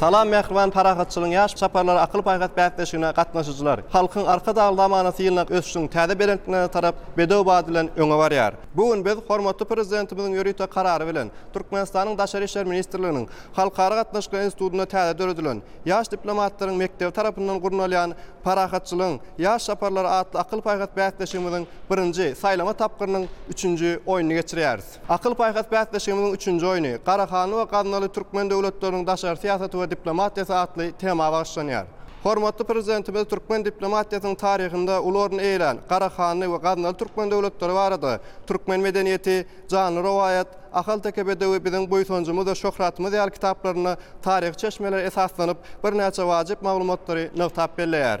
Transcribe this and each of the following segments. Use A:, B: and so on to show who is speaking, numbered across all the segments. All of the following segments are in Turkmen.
A: Salam mähriban Parahatçylygyň ýaş çaparlary akyl-paýhas bäsleşigine gatnaşyjylar! Halkyň Arkadagly zamanasy ýylynda ösüşiň täze belentliklerine tarap bedew bat bilen öňe barýar. Bu gün biz hormatly Prezidentimiziň ýörite Karary bilen Türkmenistanyň Daşary işler ministrliginiň Halkara gatnaşyklary institutynda täze döredilen Ýaş diplomatlaryň mekdebi tarapyndan gurnalýan Parahatçylygyň ýaş çaparlary atly akyl-paýhas bäsleşigimiziň birinji saýlama tapgyrynyň üçünji oýnuny geçirýäris. Akyl-paýhas bäsleşigimiziň üçünji oýny Garahanly we Gaznaly türkmen döwletleriniň daşary syýasaty we diplomatiýasy atly tema bagyşlanýar. Hormatly Prezidentimiz türkmen diplomatiýasynyň taryhynda uly orun eýelän Garahanly we Gaznaly türkmen döwletleri barada Türkmen medeniýeti, Janly rowaýat, Ahalteke bedewi biziň buýsanjymyz we şöhratymyz ýaly kitaplarynda taryhy çeşmelere esaslanyp, birnäçe wajyp maglumatlary nygtap belleýär.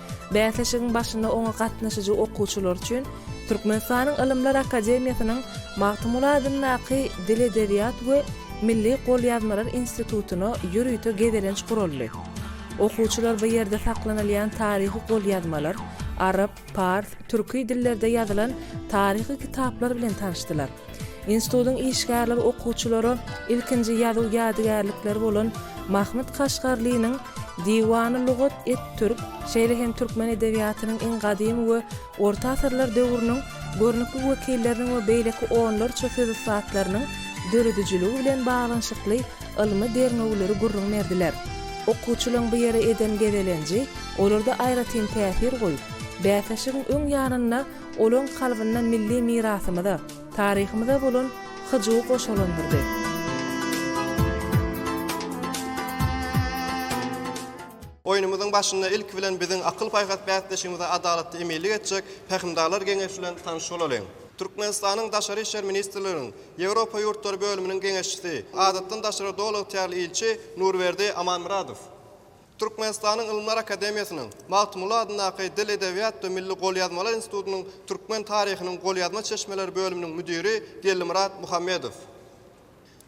B: Bäsleşigiň başynda oňa gatnaşyjy okuwçylar üçin Türkmenistanyň Ylymlar akademiýasynyň Magtymguly adyndaky Dil-edebiýat we milli golýazmalar institutyna ýörite gezelenç guraldy. Okuwçylar bu ýerde saklanylýan taryhy golýazmalar, arap, pars, türki dillerde ýazylan taryhy kitaplar bilen tanyşdylar. Institutyň işgärleri okuwçylara ilkinji ýazuw ýadygärlikleri bolan Mahmyt Kaşgarlynyň Diwany lugat et-türk, şeýle hem türkmen edebiýatynyň iň gadymy we orta asyrlar döwrüniň görnükli wekilleriniň we beýleki onlarça söz ussatlarynyň döredijiligi bilen baglanyşykly ylmy derňewleri gürrüň berdiler. Okuwçylaryň bu ýere eden gezelenji olarda aýratyn täsir goýup, bäsleşigiň öň ýanynda Olaň kalbynda milli mirasymyza, taryhymyza bolan hyjuw goşalandyrdy.
A: Oýnumyzyň başynda ilki bilen biziň akyl-paýhas bäsdeşimize adalatly eminlik etjek Pähimdarlar geňeşi bilen tanyş bolalyň. Türkmenistanyň Daşary işler ministrliginiň Ýewropa ýurtlary bölüminiň geňeşçisi, Adatdan daşary doly ygtyýarly ilçi Nurberdi Amanmyradow. Türkmenistanyň Ylymlar akademiýasynyň Magtymguly adyndaky Dil, edebiýat we milli golýazmalar institutynyň türkmen taryhynyň golýazma çeşmeleri bölüminiň müdiri Gellimyrat Muhammedow.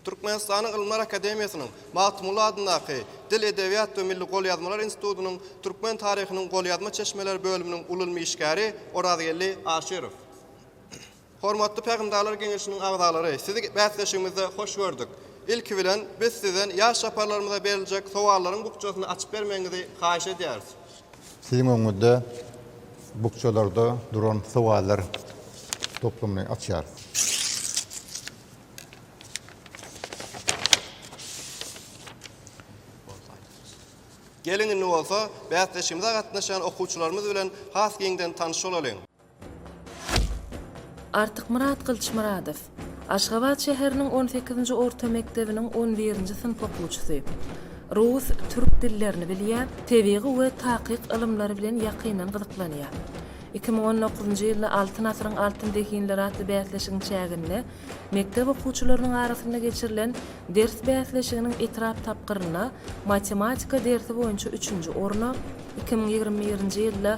A: Türkmenistanyň Ylymlar akademiýasynyň Magtymguly adyndaky Dil, edebiýat we milli golýazmalar institutynyň türkmen taryhynyň golýazma çeşmeleri bölüminiň uly ylmy işgäri Orazgeldi Aşyrow. Hormatly Pähimdarlar geňeşiniň agzalary, sizi bäsleşigimizde hoş gördük. Ilki bilen, biz sizden ýaş çaparlarymyza beriljek sowallaryň bukjasyny açyp bermegiňizi haýyş edýäris. Siziň
C: öňüňizde bukjalarda duran sowallar toplumyny açýarys.
A: Geliň, indi bolsa, bäsleşigimize gatnaşýan okuwçylarymyz bilen has giňden tanyş bolalyň.
B: Artykmyrat Gylyçmyradow, Aşgabat şäheriniň on sekizinji orta mekdebiniň on birinji synp okuwçysy. Rus, türk dillerini bilýär, tebigy we takyk ylymlary bilen ýakyndan gyzyklanýar. Iki müň on dokuzynjy ýylda Altyn asyryň altyn zehinleri atly bäsleşigiň çäginde mekdep okuwçylarynyň arasynda geçirilen ders bäsleşiginiň etrap tapgyrynda matematika dersi boýunça üçünji orna, iki müň ýigrimi birinji ýylda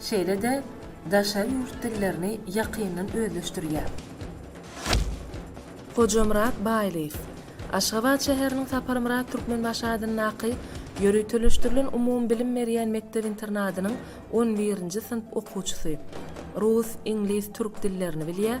B: şeýle-de daşary ýurt dillerini ýakyndan özleşdirýär. Hojamyrat Baýlyýew, Aşgabat şäheriniň Saparmyrat Türkmenbaşy adyndaky ýöriteleşdirilen umumybilim berýän mekdep-internadynyň on birinji synp okuwçysy. Rus, iňlis, türk dillerini bilýär,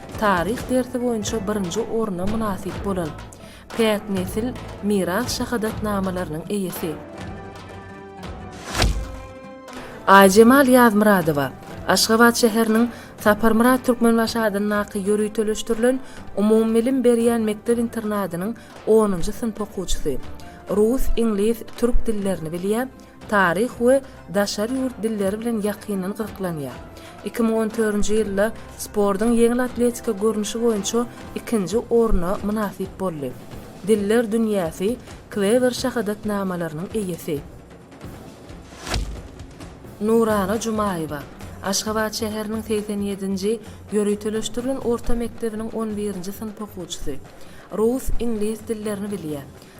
B: Taryh dersi boýunça birinji orna mynasyp bolan, Päk nesil Miras şahadatnamalarynyň eýesi. Aýjemal Ýazmyradowa, Aşgabat şäheriniň Saparmyrat Türkmenbaşy adyndaky ýöriteleşdirilen umumybilim berýän mekdep-internadynyň onunjy synp okuwçysy. Rus, iňlis, türk dillerini bilýär, taryh we daşary ýurt dilleri bilen ýakyndan gyzyklanýar. Iki müň on törünji ýylda sportuň ýeňil atletika görnüşi boýunça ikinji orna mynasyp boldy. Diller dünýäsi Klewer şahadatnamalarynyň eýesi. Nurana Jumaýewa, Aşgabat şäheriniň segsen ýedinji ýöriteleşdirilen orta mekdebiniň on birinji synp okuwçysy. Rus, iňlis dillerini bilýär.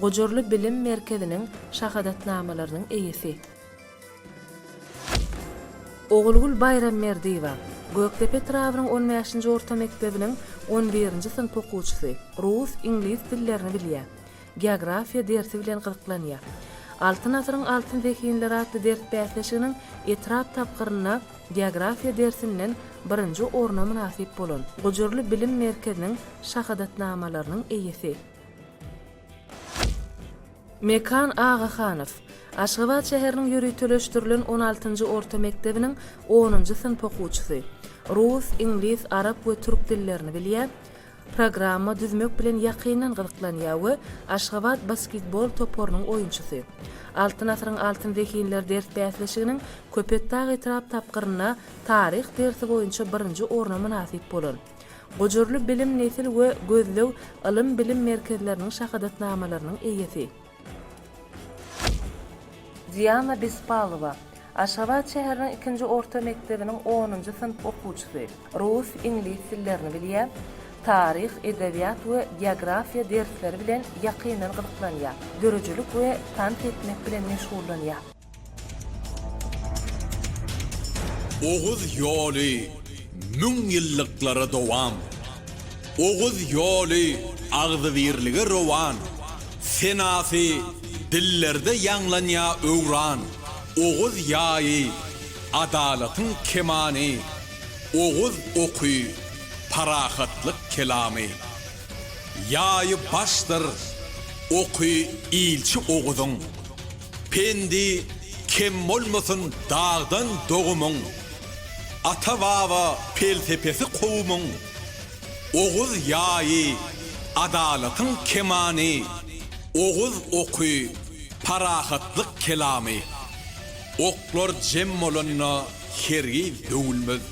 B: Gujurly bilim merkeziniň şahadatnamalarynyň eýesi. Ogulgül Baýramberdiýewa, Gökdepe etrabynyň on bäşinji orta mekdebiniň on birinji synp okuwçysy, rus, iňlis dillerini bilýär. Geografiýa dersi bilen gyzyklanýar. Altyn asyryň altyn zehinleri atly ders bäsleşiginiň etrap tapgyrynda geografiýa dersinden birinji orna mynasyp bolan. Gujurly bilim merkeziniň şahadatnamalarynyň eýesi. Mekan Agahanow, Aşgabat şäheriniň ýöriteleşdirilen on altynjy orta mekdebiniň onunjy synp okuwçysy. Rus, iňlis, arap we türk dillerini bilýär. Programma düzmek bilen ýakyndan gyzyklanýar we Aşgabat basketbol toparynyň oýunçysy. Altyn asyryň altyn zehinleri ders bäsleşiginiň Köpetdag etrap tapgyrynda taryh dersi boýunça birinji orna mynasyp bolan. Gujurly bilim nesil we gözleg ylym-bilim merkezleriniň şahadatnamalarynyň eýesi. Diana Bespalowa, Aşgabat şäheriniň ikinji orta mekdebiniň onunjy synp okuwçysy. Rus, iňlis dillerini bilýär. Taryh, edebiýat we geografiýa dersleri bilen ýakyndan gyzyklanýar. Döredijilik we tans etmek bilen meşgullanýar.
D: Oguz ýoly müň ýyllyklara dowam. Oguz ýoly agzybirlige rowan. Senasy dillerde ýaňlanýa öwran. Oguz ýaýy, adalatyň kemany. Oguz oky, parahatlyk kelamy. Ýaýy başdyr, oky ilçi Oguzyň. Pendi kem bolmasyn dagdan dogumyň, Ata-baba pelsepesi kowumyň, Oguz ýaýy, adalatyň kemany, Oguz oky, parahatlyk kelamy. Oklar jem bolanda hergiz döwülmez,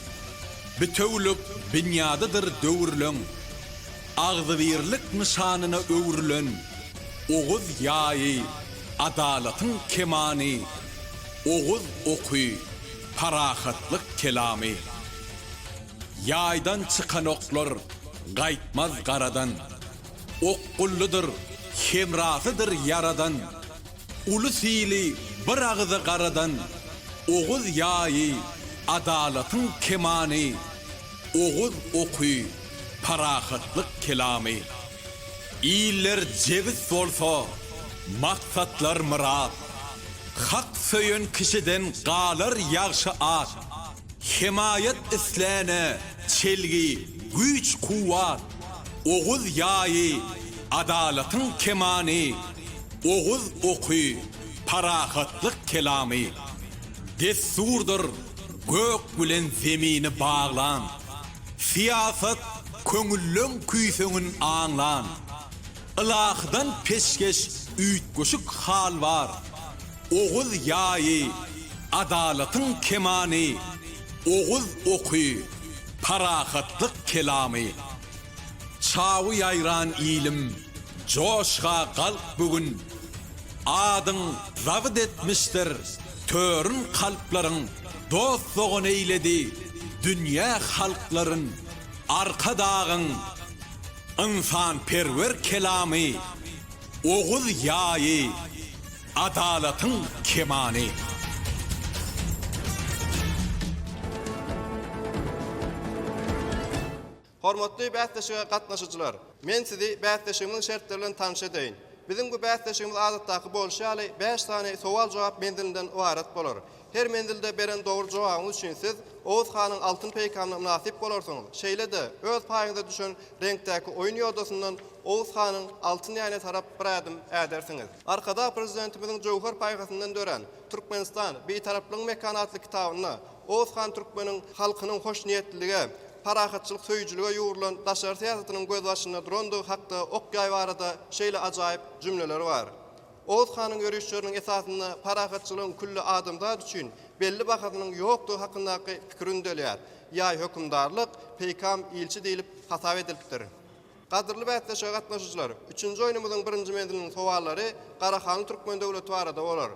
D: Bitewülik binýadydyr döwrüleň, Agzybirlik nyşanyna öwrülen Oguz ýaýy, Adalatyň kemany, oguz oky, parahatlyk kelamy. Ýaýdan çykan oklar gaýtmaz garadan, okgullydyr, hemrasydyr ýaradan. Uly syly bir agyza garadan, oguz ýaýy, adalatyň kemany, oguz oky, parahatlyk kelamy. Iller jebis bolsa, maksatlar myrat. Hak söýen kişiden galar ýagşy at. Hemaýat isläne çelgi, güýç-kuwwat. Oguz ýaýy, adalatyň kemany. Oguz oky, parahatlyk kelamy. Dessurdyr gök bilen zemini baglan. Syýasat köňülleň küýseňin aňlan. Ylahydan peşgeş üýtgeşik hal bar. Oguz ýaýy, adalatyň kemany, Oguz oky, parahatlyk kelamy. Çawy ýaýran ilim, joşga galk bu gün. Adyň zabyt etmişdir törün kalplaryň. dost-dogan eýledi dünýä halklaryn Arkadagyň ynsanperwer kelamy Oguz ýaýy adalatyň kemany.
A: Hormatly bäsleşige gatnaşyjylar! Men sizi bäsleşigimiziň şertleri bilen tanyş edeýin. Biziň bu bäsleşigimiz adatdaky bolşy ýaly bäş sany sowal-jogap menzilinden ybarat bolar. Her menzilde beren dogry jogabyňyz üçin siz Oguz hanyň altyn peýkamyna mynasyp bolarsyňyz. Şeýle-de, öz paýyňyza düşen reňkdäki oýun ýodasyndan Oguz hanyň altyn ýaýyna tarap bir ädim ädersiňiz. Arkadag Prezidentimiziň jöwher paýhasyndan dörän Türkmenistan, Bitaraplygyň mekany atly kitabynda Oguzhan türkmeniň halkynyň hoşniýetlilige, parahatçylyk söýüjilige ýugrulan daşary syýasatynyň gözbaşynda durandygy hakda ok-ýaý barada şeýle ajaýyp jümleleri bar, Oguz hanyň ýörüşleriniň esasynda parahatçylygyň külli adamzat üçin belli bahasynyň ýokdugy hakyndaky pikir ündelýär, Ýaý hökümdarlyk, peýkam ilçi diýlip hasap edilipdir. Gadyrly bäsleşige gatnaşyjylar, üçünji oýnumyzyň birinji menziliniň sowallary Garahanly türkmen döwleti barada bolar.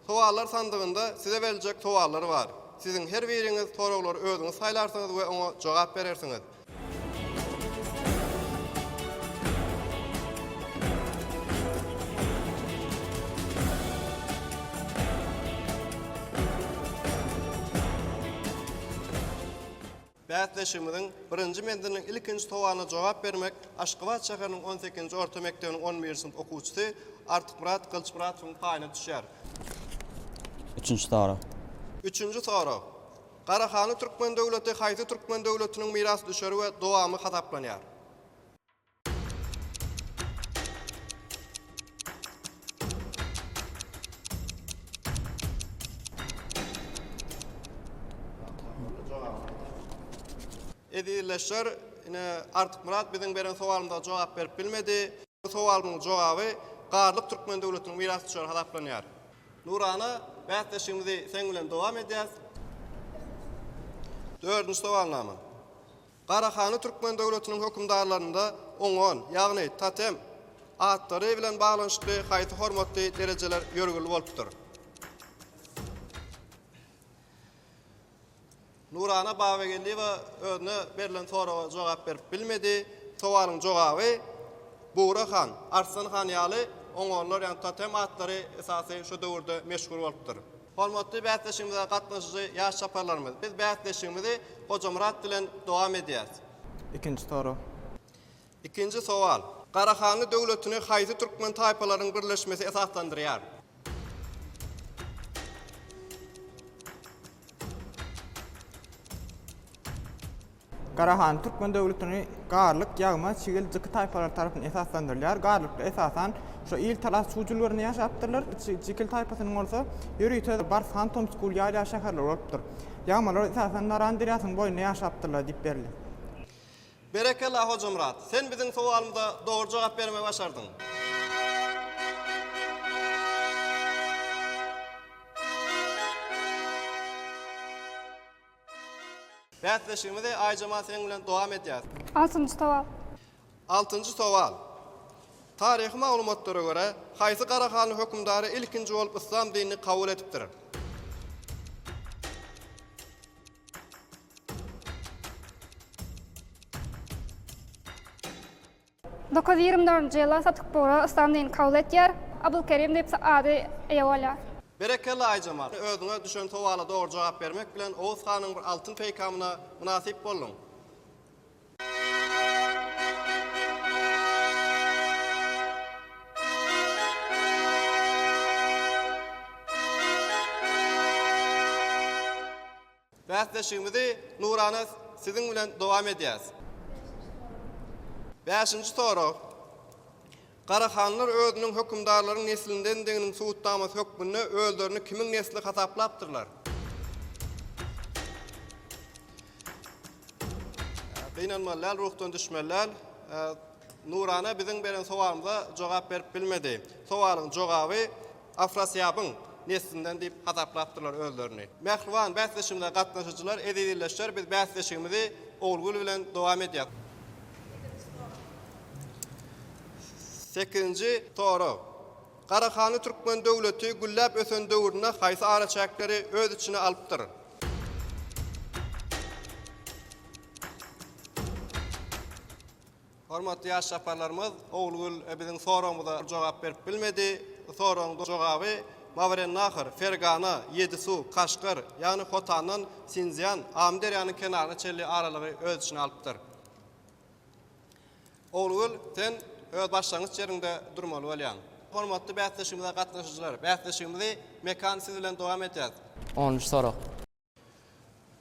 A: Sowallar sandygynda size beriljek sowallar bar. Siziň her biriňiz soraglary özüňiz saýlarsyňyz we oňa jogap berersiňiz. Bäsleşigimiziň birinji menziliniň ilkinji sowalyna jogap bermek Aşgabat şäheriniň on sekizinji orta mekdebiniň on birinji synp okuwçysy Artykmyrat Gylyçmyradowyň paýyna düşýär.
E: Üçünji sorag. Üçünji
A: sorag. Garahanly türkmen döwleti haýsy türkmen döwletiniň mirasdüşeri we dowamy hasaplanýar? Edilleşer, ine Artyk Murat biziň beren sowalymyza jogap berip bilmedi. Bu sowalymyň jogaby Garlyk Türkmen döwletiniň miras düşeri hasaplanýar. Nurana, bäsleşigimizi seň bilen dowam edýäs. Dördünji sowalnama. Garahanly Türkmen döwletiniň hökümdarlarynda Ongon, ýagny totem, atlary bilen baglanyşykly haýsy hormatly derejeler ýörgünli bolupdyr? Nurana Babageldiýewa özüne berlen soraga jogap berip bilmedi. Sowalyň jogaby, Bugra han, Arslan han ýaly ongonlar, ýagny totem atlary esasy şu döwürde meşhur bolupdyr. Hormatly bäsleşigimize gatnaşyjy ýaş çaparlarymyz! Biz bäsleşigimizi Hojamyrat bilen dowam edýäris. Ikinji sorag.
F: Ikinji
A: sowal. Garahanly döwletini haýsy türkmen taýpalarynyň birleşmesi esaslandyrýar?
F: Garahan türkmen döwletini Garlyk, Ýagma, Çigil, Jyky taýpalary tarapyndan esaslandyrylýar. Garlyklar esasan şu il-talas çuw jülgelerinde ýaşapdyrlar. Çigil taýpasynyň bolsa ýörite Bars han Tomskul ýalýa şäherleri bolupdyr. Ýagmalar esasan Naran derýasynyň boýunda ýaşapdyrlar diýip berildi.
A: Berekella Hojamyrat! Sen biziň sowalymyza dogry jogap bermegi başardyň. Bäsleşigimizi Aýjemal seň bilen dowam edýäris. Altynjy sowal.
G: Altynjy
A: sowal. Taryhy maglumatlara görä, haýsy garahanly hökümdary ilkinji bolup yslam dinini kabul edipdir?
G: Dokuz ýigrimi dördünji ýyla Satyk Bugra Yslam dinini kabul etýär. Abylkerim diýip ady eýe bolýar. Berekella
A: Aýjemal! Özüňe düşen sowala dogry jogap bermek bilen Oguz hanyň bir altyn peýkamyna mynasyp bolduň. Bäsleşigimizi Nurana siziň bilen dowam edýäs. Bäşinji sorag. Garahanlar özüniň hökümdarlaryň neslindendiginiň subutnamasy hökmünde özlerini kimiň nesli hasaplapdyrlar? Gynanmaly däl, ruhdan düşmeli däl. Nurana biziň beren sowalymyza jogap berip bilmedi. Sowalyň jogaby Afrasýabyň neslinden diýip hasaplapdyrlar özlerini. Mähriban bäsleşigimize gatnaşyjylar, eziz ildeşler, biz bäsleşigimizi Ogulgül bilen dowam edýäs. Sekizinji sorag. Garahanly türkmen döwleti gülläp ösen döwründe haýsy araçäkleri öz içine alypdyr? Hormatly ýaş çaparlarymyz Ogulgül biziň soragymyza jogap berip bilmedi. Soragyň jogaby Mawerennahar, Fergana, Ýedisu, Kaşgar, ýagny Hotandan Sinzian, Amyderýanyň kenaryna çenli aralygy öz içine alypdyr. Ogulgül, sen öz başlangyç ýeriňde durmaly bolýaň. Hormatly bäsleşigimize gatnaşyjylar, bäsleşigimizi Mekan siz bilen dowam edýäs. On üç sorag.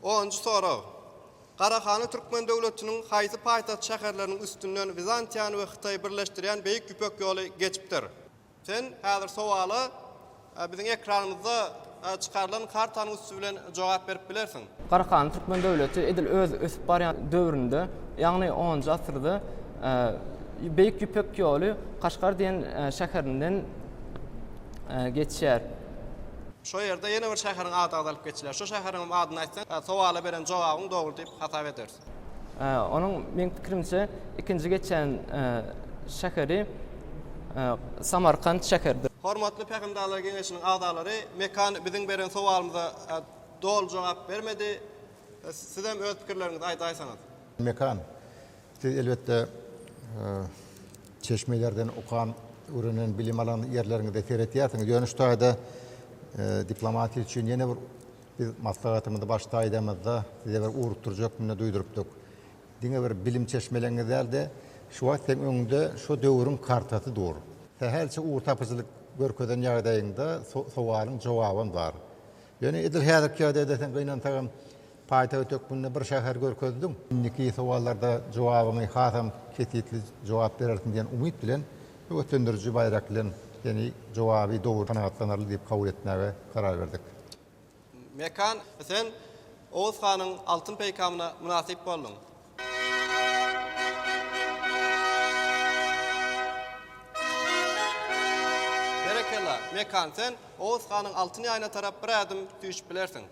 A: Onunjy sorag. Garahana Türkmen döwletiniň haýsy paýtagt şäherleriniň üstünden Wizantiýany we Hytaýy birleşdirýän Beýik Ýüpek ýoly geçipdir? Sen häzir sowala biziň ekranymyzda çykarylan kartanyň üsti bilen jogap berip bilersiň. Garahana Türkmen
H: döwleti edil öz ösüp barýan döwründe, ýagny onunjy asyrda Beýik Ýüpek ýoly Kaşgar diýen şäherinden geçýär. Şo ýerde
A: ýene bir şäheriň ady agzalyp geçiler. Şo şäheriňem adyny aýtsaň, sowala beren jogabyň dogry diýip hasap ederis. Onuň
H: meň pikirimçe ikinji geçýän şäheri Samarkant şäheridir. Hormatly Pähimdarlar
A: geňeşiniň agzalary Mekan biziň beren sowalymyza doly jogap bermedi. Sizem öz pikirleriňizi aýdaýsaňyz. Mekan.
C: Siz elbetde çeşmelerden okan, öwrenen, bilim alan ýerleriňize seretýärsiňiz. Ýöne şu taýda diplomatiýa üçin ýene bir biz maslahatymyzy baş taýdamyzda size bir ugrukdyrjak munda duýdurypdyk. Diňe bir bilim çeşmeleňiz däl-de, şu wagt seň öňüňde şu döwrüň kartasy dur. Sähelçe ugurtapyjylyk görkezen ýagdaýyňda sowalyň jogabam bar. Ýöne edil häzirki ýagdaýda sen gynansagam Paýtagt hökmünde bir şäher görkezdiň. Indiki sowallarda jogabyňy hasam kesgitli jogap berersiň diýen umyt bilen, höweslendiriji baýrak bilen seni jogaby dogry kanagatlanarly diýip kabul etmäge karar berdik. Mekan,
A: sen Oguz hanyň altyn peýkamyna mynasyp bolduň. Berekella, Mekan, sen Oguz hanyň altyn ýaýyna tarap bir ädim süýşüp bilersiň.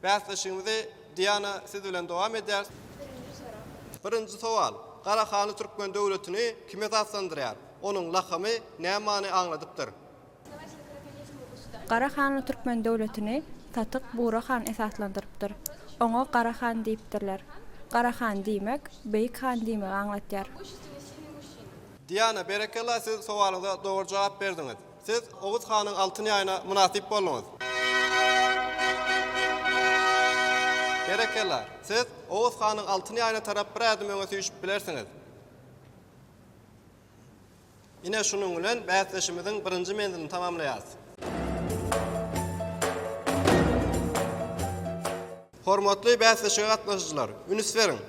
A: Bäsleşigimizi Diana siz bilen dowam edýäris. Birinji sorag. Birinji sowal. Gara hanly türkmen döwletini kim esaslandyrýar? Onuň lakamy nä many aňladypdyr?
I: Gara hanly türkmen döwletini Tatyk Bura han esaslandyrypdyr. Oňa Gara han diýipdirler. Gara han diýmek, beýik han diýmegi aňlatýar.
A: Diana berekella siz sowalyňyza dogry jogap berdiňiz. Siz Oguz hanyň altyn ýaýyna mynasyp bolduňyz. Berekella! Siz Oguz hanyň altyn ýaýyna tarap bir ädim öňe süýşüp bilersiňiz. Ine şunuň bilen bäsleşimiziň birinji menzilini tamamlaýarys. Hormatly bäsleşige gatnaşyjylar, üns beriň!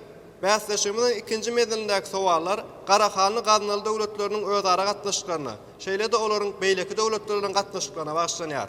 A: Bäsleşigimiziň ikinji menzilindäki sowallar Garahanly Gaznaly döwletleriniň özara gatnaşyklaryna, şeýle-de olaryň beýleki döwletler bilen gatnaşyklaryna bagyşlanýar.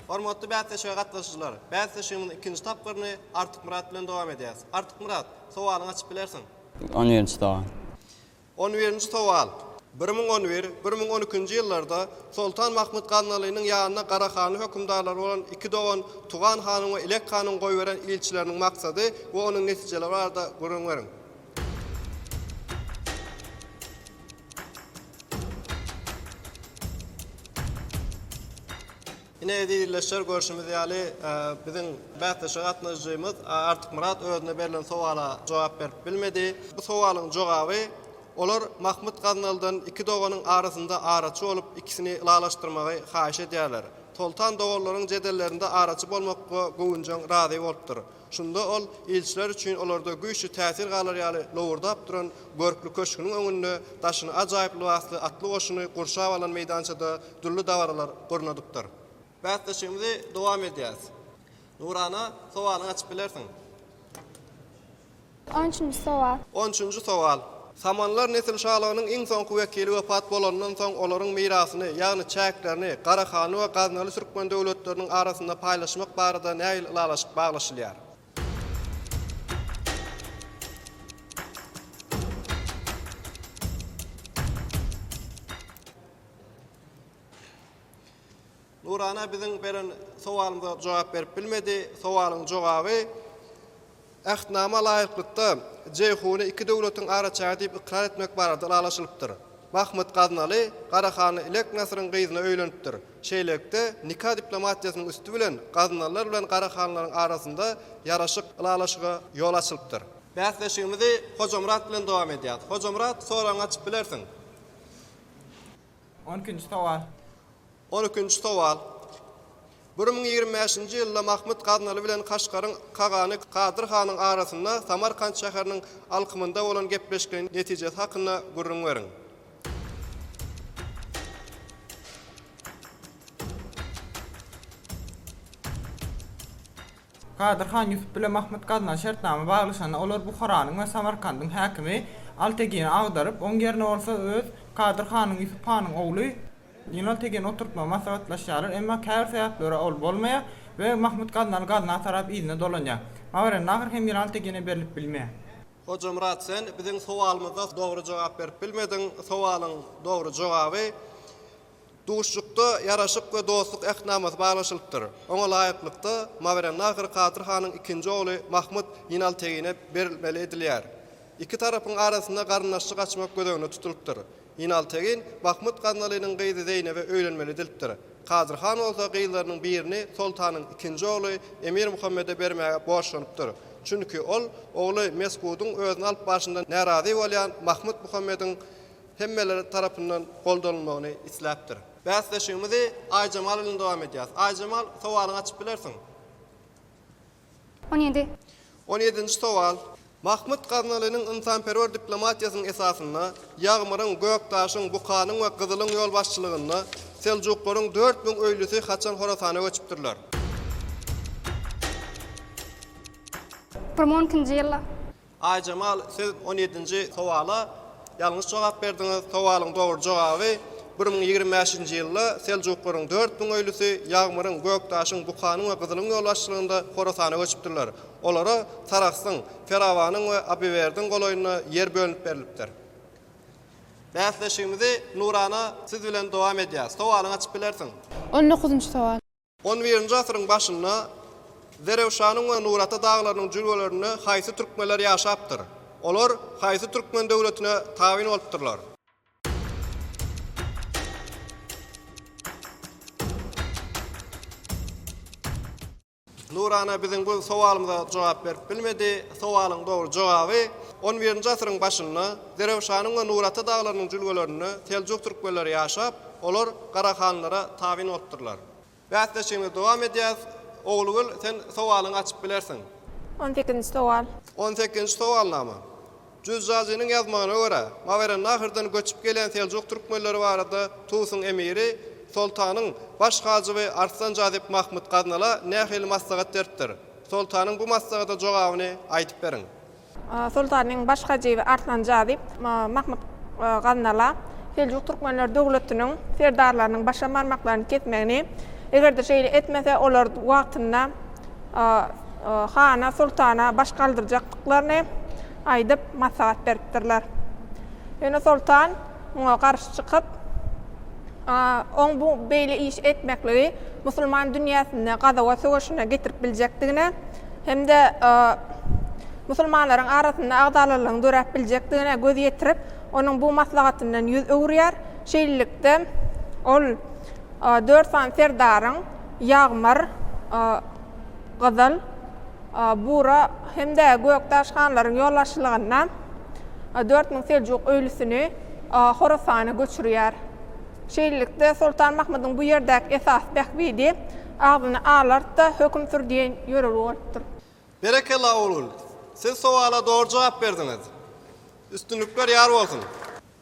A: Hormatly bäsleşige gatnaşyjylar, bäsleşigimiziň ikinji tapgyryny Artykmyrat bilen dowam edýäris. Artykmyrat, sowalyňy açyp bilersiň. On birinji sowal.
E: On birinji
A: sowal. Bir müň on bir, bir müň on ikinji ýyllarda Soltan Mahmyt Gaznalynyň ýanyna Garahanly hökümdarlary bolan iki dogan Tugan hanyň we Ilek hanyň goýberen ilçileriniň maksady we onuň netijeleri barada gürrüň beriň. Ine, ezizilleşer, görşümiz ýaly, biziň bäsleşige gatnaşyjymyz Artykmyrat özüne berlen sowala jogap berip bilmedi. Bu sowalyň jogaby, Olar Mahmyt Gaznalydan iki doganyň arasynda araçy bolup, ikisini ylalaşdyrmagy haýyş edýärler. Soltan doganlaryň jedellerinde araçy bolmakga göwünjeň razy bolupdyr. Şunda ol ilçiler üçin olarda güýçli täsir galar ýaly lowurdap duran görkli köşgüniň öňünde daşyny ajaýyp lybasly atly goşuny gurşap alan meýdançada dürli dabaralar gurnadypdyr. Bäsleşigimizi dowam edýäris. Nurana, sowalyňy açyp bilersiň.
G: On üçünji sowal. On üçünji sowal.
A: Samanlar nesilşalygynyň iň soňky wekili wepat bolanyndan soň olaryň mirasyny, ýagny çäklerini Garahanly we Gaznaly türkmen döwletleriniň arasynda paýlaşmak barada nähili ylalaşyk baglaşylýar? Nurana biziň beren sowalymyza jogap berip bilmedi. Sowalyň jogaby, Ähtnama laýyklykda, Jeýhuny iki döwletiň araçägi diýip ykrar etmek barada ylalaşylypdyr. Mahmyt Gaznaly Garahanly Ilek Nasyryň gyzyna öýlenipdir. Şeýlelikde, nika diplomatiýasynyň üsti bilen Gaznalylar bilen Garahanlylaryň arasynda ýaraşyk, ylalaşyga ýol açylypdyr. Bäsleşigimizi Hojamyrat bilen dowam edýäris. Hojamyrat, soragyňy açyp bilersiň.
F: On ikinji sowal. On ikinji
A: sowal. Bir müň ýigrimi bäşinji ýylda Mahmyt Gaznaly bilen Kaşgaryň kagany Kadyr hanyň arasynda Samarkant şäheriniň alkymynda bolan gepleşikleýin netijesi hakynda gürrüň beriň.
F: Gadyr han Ýusup bilen Mahmyt Gaznan şertnama baglaşanda, olar Buharanyň we Samarkandyň häkimi Altegini agdaryp, oň ýerine bolsa öz Gadyr hanyň Ýusup hanyň ogly Ýnaltegini oturtmagy maslahatlaşýarlar, emma käbir sebäplere ol bolmaýar we Mahmyt Gaznany Gazna tarap yzyna dolanýar. Mawerennahr hem Ýnaltegine berlip bilmeýär. Hojamyrat
A: sen biziň sowalymyza dogry jogap berip bilmediň. Sowalyň dogry jogaby Duşuşykda Ýaraşyk we dostluk Ähtnamasy baglaşylypdyr. Oňa laýyklykda, Mawerannahr Kadyr hanyň ikinji ogly Mahmut Ýinaltegine berilmeli edilýär. Iki tarapyň arasynda garyndaşlyk açmak göz öňünde tutulypdyr. Ýinaltegin Mahmut Gaznalynyň gyzy Zeýnebe öýlenmeli edilipdir. Kadyr han bolsa gyzlarynyň birini soltanyň ikinji ogly Emir Muhammede bermäge borçlanypdyr. Çünki ol ogly Mesgudyň özüni alyp barşyndan närazy bolýan Mahmut Muhammediň hemmeler tarapyndan goldanylmagyny isläpdir. Bäsleşigimizi Aýjemal bilen dowam edýäris. Aýjemal, sowalyňy açyp bilersiň.
G: On ýedi. On ýedinji
A: sowal. Mahmyt Gaznalynyň ynsanperwer diplomatiýasynyň esasynda, Ýagmyryň, Gökdaşyň, Bukanyň we Gyzylyň ýolbaşçylygynda seljuklaryň dört müň öýlüsi haçan Horasana göçüpdirler?
G: Ýigrimi on ikinji ýylda. Aýjemal
A: siz on ýedinji sowala ýalňyş jogap berdiňiz. Sowalyň dogry jogaby bir müň ýigrimi bäşinji ýylda Seljuklaryň dört müň öýlüsi Ýagmyryň, Gökdaşyň, Bukanyň we Gyzylyň ýolbaşçylygynda Horasana göçüpdirler. Olara Sarahsyň, Ferawanyň we Abywerdiň golaýynda ýer bölünip berlipdir. Bäsleşigimizi nurana siz bilen dowam edýäs. Sowalyňy açyp bilersiň. On dokuzynjy sowal.
J: On birinji asyryň
A: başynda Zerewşanyň we Nurata daglarynyň jülgelerinde haýsy türkmenler ýaşapdyr? Olar haýsy türkmen döwletine tabyn bolupdyrlar? Nurana biziň bu sowalymyza jogap berip bilmedi. Sowalyň dogry jogaby, On birinji asyryň başynda Zerewşanyň we Nurata daglarynyň jülgelerinde seljuk türkmenleri ýaşap, Olar Garahanlara tabyn bolupdyrlar. Bäsleşigimiz dowam edýär. Oglugül, sen sowalyňy açyp bilersiň. On sekizinji
J: sowal. On sekizinji
A: sowalnama. Jüzjazynyň ýazmagyna görä, Mawerennahyrdan göçüp gelýän seljuk türkmenleri barada Tusyň emiri, soltanyň baş hajyby Arslan Jazyp Mahmyt Gaznala nähili maslahat beripdir? Soltanyň bu maslahata jogabyny aýdyp beriň. Soltanyň
J: baş hajyby Arslan Jazyp, Mahmut Gaznala Seljuk Türkmenler döwletiniň serdarlarynyň başam barmaklaryny kesmegini, eger-de şeýle etmese, olar wagtynda hana, soltana baş galdyrjakdyklaryny aýdyp, maslahat beripdirler. Ýöne soltan. Muňa garşy çykyp, oň bu beýle iş etmekligi musulman dünýäsinde gazawa söweşine getirip biljekdigine hem-de musulmanlaryň arasynda agzalalygyň döräp biljekdigine göz ýetirip, onuň bu maslahatyndan ýüz öwürýär. Şeýlelikde, ol dört sany serdaryň, Ýagmyr, Gyzyl, Bura hem-de Gökdaş hanlaryň ýolbaşçylygynda dört müň seljuk öýlüsini Horasana göçürýär. Şeýlelikde, Soltan Mahmydyň bu ýerdäki esasy bähbidi Agzyny alart-da, höküm sür diýen ýörelge bolupdyr. Berekella
A: ogul, siz sowala dogry jogap berdiňiz. Üstünlikler ýar bolsun.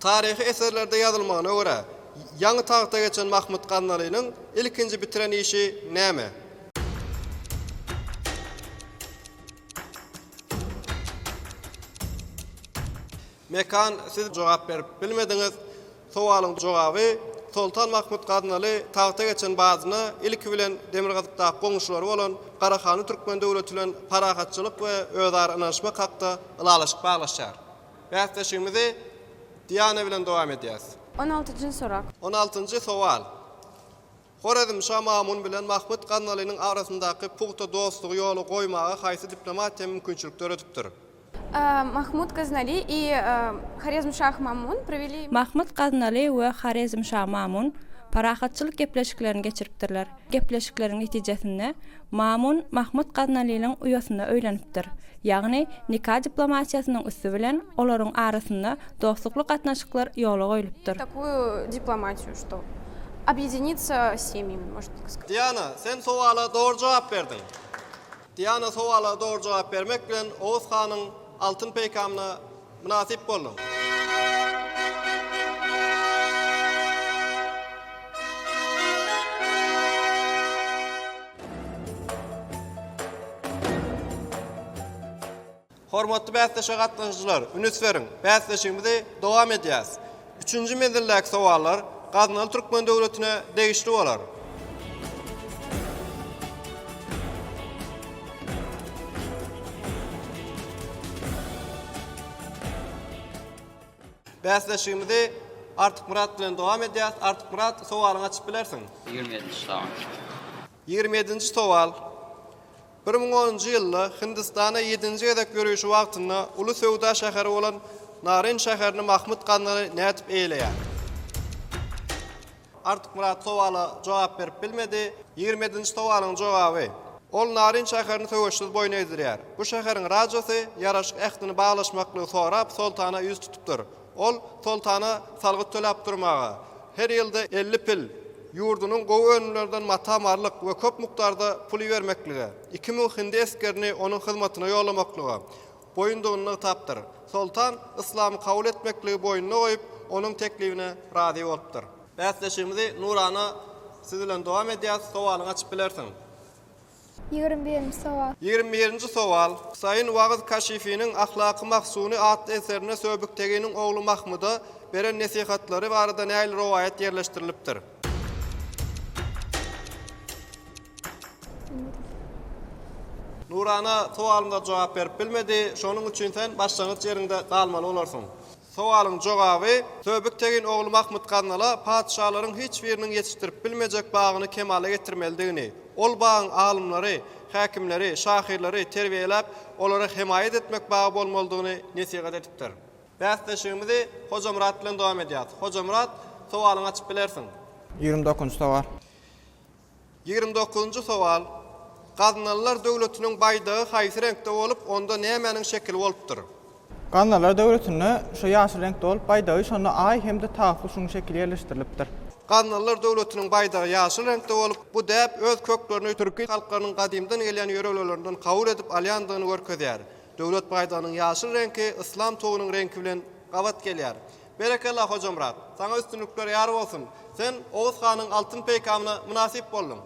A: Taryhy eserlerde ýazylmagyna görä, ýaňy tagta geçen Mahmyt Gaznalynyň ilkinji bitiren işi näme? Mekan, siz jogap berip bilmediňiz. Sowalyň jogaby, Soltan Mahmyt Gaznaly tagta geçen badyna ilki bilen demirgazykdaky goňşulary bolan Garahany Türkmen döwleti bilen parahatçylyk we özara ynanyşmak hakda ylalaşyk baglaşýar. Bäsleşigimizi Diana bilen dowam edýäs. On altynjy sorak.
J: On altynjy sowal.
A: Horezmşa Mamun bilen Mahmyt Gaznalynyň arasyndaky pugta dostlugy ýola goýmaga haýsy diplomatiýa mümkinçilik döredipdir? A. Mahmut
J: Gaznaly I. Horezmşah Mamun proweli. Mahmyt Gaznaly
I: we Horezmşa Mamun parahatçylyk gepleşiklerini geçiripdirler. Gepleşikleriň netijesinde Mamun Mahmud Gaznalynyň uýasyna öýlenipdir. Ýagny, nika diplomatiýasynyň üsti bilen olaryň arasynda dostlukly gatnaşyklar ýola goýlupdyr.
J: Diana, sen sowala
A: dogry jogap berdiň. Diana sowala dogry jogap bermek bilen Oguz hanyň altyn peýkamyna Mynasyp bolduň. Hormatly bäsleşige gatnaşyjylar, üns beriň, bäsleşigimizi dowam edýäs! Üçünji menzildäki sowallar gaznaly türkmen döwletine degişli bolar. Bäsleşigimizi Artykmyrat bilen dowam edýäs. Artykmyrat, sowalyňy açyp bilersiň. Ýigrimi ýedi ştamm.
E: Ýigrimi
A: ýedinji sowal. Bir müň onunjy ýylda Hindistana ýedinji gezek ýörişi wagtynda uly söwda şäheri bolan Narin şäherini Mahmyt Ganzany nädip eýeleýär? Artykmyrat sowala jogap berip bilmedi. Ýigrimi ýedinji sowalyň jogaby. Ol Narin şäherini söweşsiz boýun egdirýär. Bu şäheriň rajasy ýaraşyk ähtini baglaşmaklygy sorap soltana ýüz tutupdyr. Ol soltana salgyt töläp durmaga, her ýylda elli pil, ýurdunyň gowy önümlerinden mata-marlyk we köp mukdarda pul ibermeklige, iki müň hindi esgerini onuň hyzmatyna ýollamaklyga boýundygyny nygtapdyr. Soltan yslamy kabul etmekligi boýnuna goýup, onuň teklibine razy bolupdyr. Bäsleşigimizi nurana siz bilen dowam edýäs, sowalyňy açyp bilersiň. Ýigrimi
G: birinji sowal. Ýigrimi birinji sowal.
A: Husaýyn Wagyz Kaşifiniň Ahlak-y Mahsuny atly eserinde Söbükteginiň ogly Mahmyda beren nesihatlary barada nähili rowaýat ýerleşdirilipdir? Nurana sowalymyza jogap berip bilmedi. Şonuň üçin sen başlangyç ýeriňde galmaly bolarsyň. Sowalyň jogaby, Söbük tegin ogly Mahmyt Gaznala patyşalaryň hiç biriniň ýetişdirip bilmejek bagyny kemala getirmelidigini, ol bagyň alymlary, häkimleri, şahyrlary terbiýeläp, olara hemaýat etmek bagy bolmalydygyny nesihat edipdir. Bäsleşigimizi Hojamyrat bilen dowam edýäs. Hojamyrat, sowalyňy açyp bilersiň. Ýigrimi dokuzynjy
F: sowal. Ýigrimi dokuzynjy
A: sowal, Gaznalylar döwletiniň baýdagy haýsy reňkde bolup, onda nämäniň şekili bolupdyr? Gaznalylar
F: döwletinde şu ýaşyl reňkde bolup, baýdagy, şonda Aý hem-de tagt we şunuň şekili ýerleşdirilipdir. Gaznalylar
A: döwletiniň baýdagy ýaşyl reňkde bolup, bu däp öz köklerini türki halklarynyň gadymdan gelýän ýörelgelerinden kabul edip alýandygyny görkezýär. Döwlet baýdagynyň ýaşyl reňki yslam tugunyň reňki bilen gabat gelýär. Berekella Hojamyrat! Saňa üstünlikler ýar bolsun! Sen Oguz hanyň altyn peýkamyna mynasyp bolduň.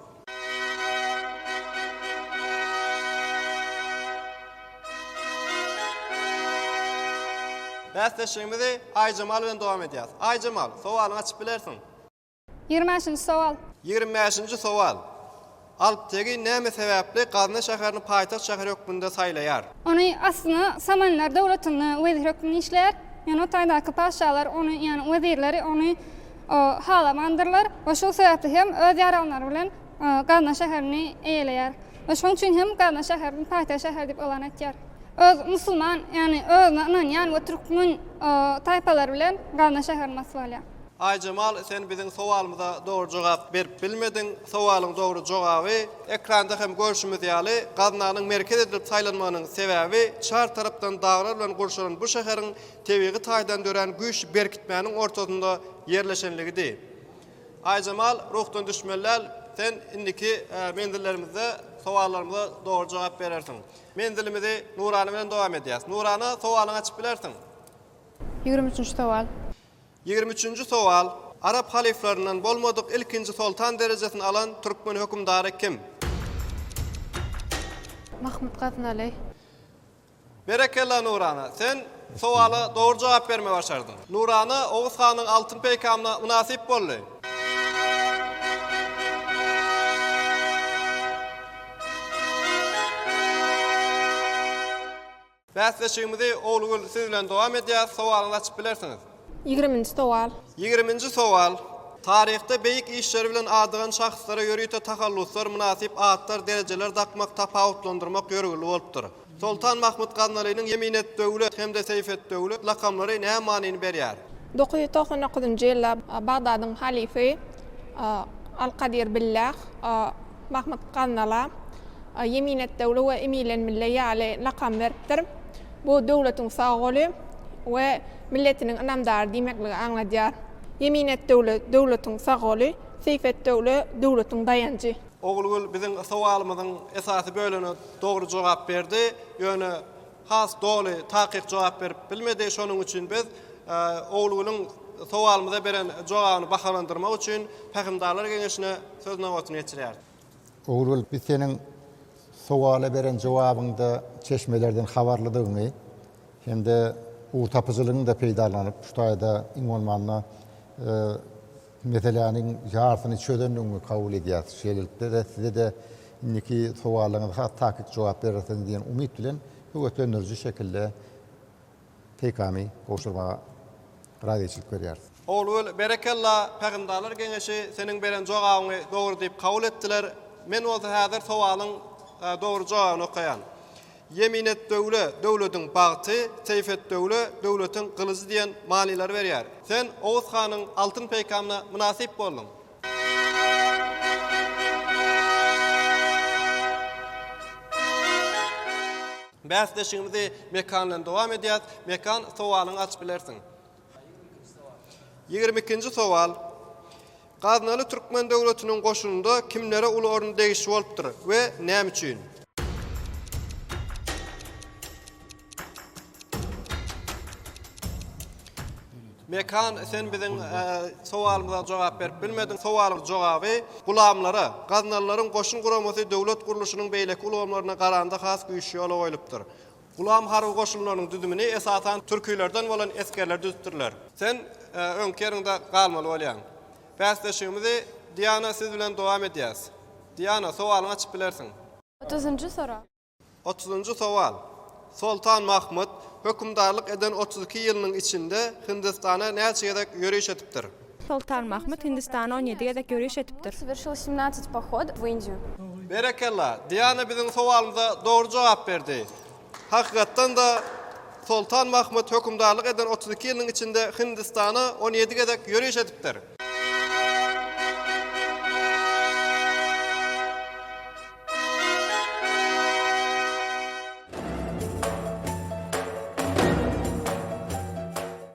A: Bäsleşigimizi Aýjemal bilen dowam edýäs. Aýjemal, sowalyňy açyp bilersiň. Ýigrimi
G: bäşinji sowal. Ýigrimi bäşinji
A: sowal. Alptegin näme sebäpli Gazny şäherini paýtagt şäheri hökmünde saýlaýar? Ony aslynda
G: Samanlar döwletinde wezir hökmünde işleýär. Ýöne o taýdaky patyşalar ony, ýagny wezirleri ony halamandyrlar we şol sebäpli hem öz ýaranlary bilen Gazna şäherini eýeleýär we şonuň üçin hem Gazna şäherini paýtagt şäheri diýip yglan etýär. Öz musulman, ýagny özüne ynanýan we türkmen taýpalary bilen Gazna şäherini basyp alýar. Aýjemal sen
A: biziň sowalymyza dogry jogap berip bilmediň. Sowalyň dogry jogaby ekranda hem görşümiz ýaly gaznanyň merkez edilip saýlanmagynyň sebäbi çar tarapdan daglar bilen gurşalan bu şäheriň tebigy taýdan dörän güýçli berkitmäniň ortasynda ýerleşenligidi. Aýjemal ruhdan düşmeliäl sen indiki menzillerimizde sowallarymyza dogry jogap berersiň. Menzilimizi Nurana bilen dowam edýäs. Nurana sowalyňy açyp bilersiň. Ýigrimi
J: üçünji sowal. Ýigrimi üçünji
A: sowal, Arap halyflaryndan bolmadyk ilkinji soltan derejesini alan türkmen hökümdary kim? Mahmut Gaznaly. Berekella Nurana! Sen sowala dogry jogap bermegi başardyň. Nurana Oguz hanyň altyn peýkamyna mynasyp boldy. Bäsleşigimizi Oglugül siz bilen dowam edýäs. Sowalyňyzy açyp bilersiňiz. Ýigriminji sowal.
J: Ýigriminji sowal.
A: Taryhda beýik işleri bilen adygan şahslara ýörite tahalluslar, mynasyp atlar, derejeler dakmak, tapawutlandyrmak ýörgünli bolupdyr. Soltan Mahmut Gaznalynyň Ýeminet-döwlet hem-de Seýfet-döwlet lakamlary näme manyny berýär? Dokuz ýüz togsan dokuzynjy
J: ýylda Bagdadyň halyfy Al-Kadir Billah Mahmyt Gannala Ýeminetdöwle we Emilenmille ýaly lakam beripdir. Bu döwletiň sag goly we milletiniň ynamdary diýmekligi aňladýar. Ýeminetdöwle, döwletiň sag goly, Seýfetdöwle, döwletiň daýanjy. Ogulgül biziň
A: sowalymyzyň esasy bölüne dogry jogap berdi. Ýöne has doly, takyk jogap berip bilmedi. Şonuň üçin biz Ogulgülüň sowalymyza beren jogabyny bahalandyrmak üçin Pähimdarlar geňeşine söz nobatyny geçirýäris. Ogulgül,
C: biz seniň sowala beren jogabyňda çeşmelerden habarlydygyňy hem-de ugurtapyjylygyňy-da peýdalanyp, şu taýda iň bolmanda Meseläniň ýarsyny çözendigiňi kabul edýäs. Şeýlelikde-de size-de indiki sowallaryňyza has takyk jogap berersiň diýen umyt bilen höweslendiriji şekilde peýkamy gowşurmaga razyçylyk berýäris. Ogulgül, berekella,
A: Pähimdarlar geňeşi seniň beren jogabyňy dogry diýip kabul etdiler. Men bolsa häzir sowalyň dogry jogabyny okaýan. Ýeminetdöwle, döwletiň bagty, Seýfetdöwle, döwletiň gylyjy diýen manylary berýär. Sen Oguz hanyň altyn peýkamyna mynasyp bolduň. Bäsleşigimizi Mekan bilen dowam edýäs. Mekan, sowalyňy açyp bilersiň. Ýigrimi ikinji sowal. Gaznaly türkmen döwletiniň goşunynda kimlere uly orun degişli bolupdyr we näme üçin? Mekan, sen biziň sowalymyza jogap berip bilmediň. Sowalyň jogaby, Gulamlara, gaznalylaryň goşun guramasy döwlet gurluşynyň beýleki ulgamlaryna garanda has güýçli ýola goýlupdyr. Gulam harby goşunlarynyň düzümini esasan türkilerden bolan esgerler düzüpdirler. Sen öňki ýeriňde galmaly bolýaň. Bäsleşigimizi Diana siz bilen dowam edýäs. Diana, sowalyňy açyp bilersiň. Otuzynjy sorag.
K: Otuzynjy
A: sowal. Soltan Mahmut hökümdarlyk eden otuz iki ýylynyň içinde Hindistana näçe gezek ýöriş edipdir? Soltan Mahmut
I: Hindistana on ýedi gezek ýöriş edipdir.
K: Berekella,
A: Diana biziň sowalymyza dogry jogap berdi. Hakykatdan-da, Soltan Mahmut hökümdarlyk eden otuz iki ýylynyň içinde Hindistana on ýedi gezek ýöriş edipdir.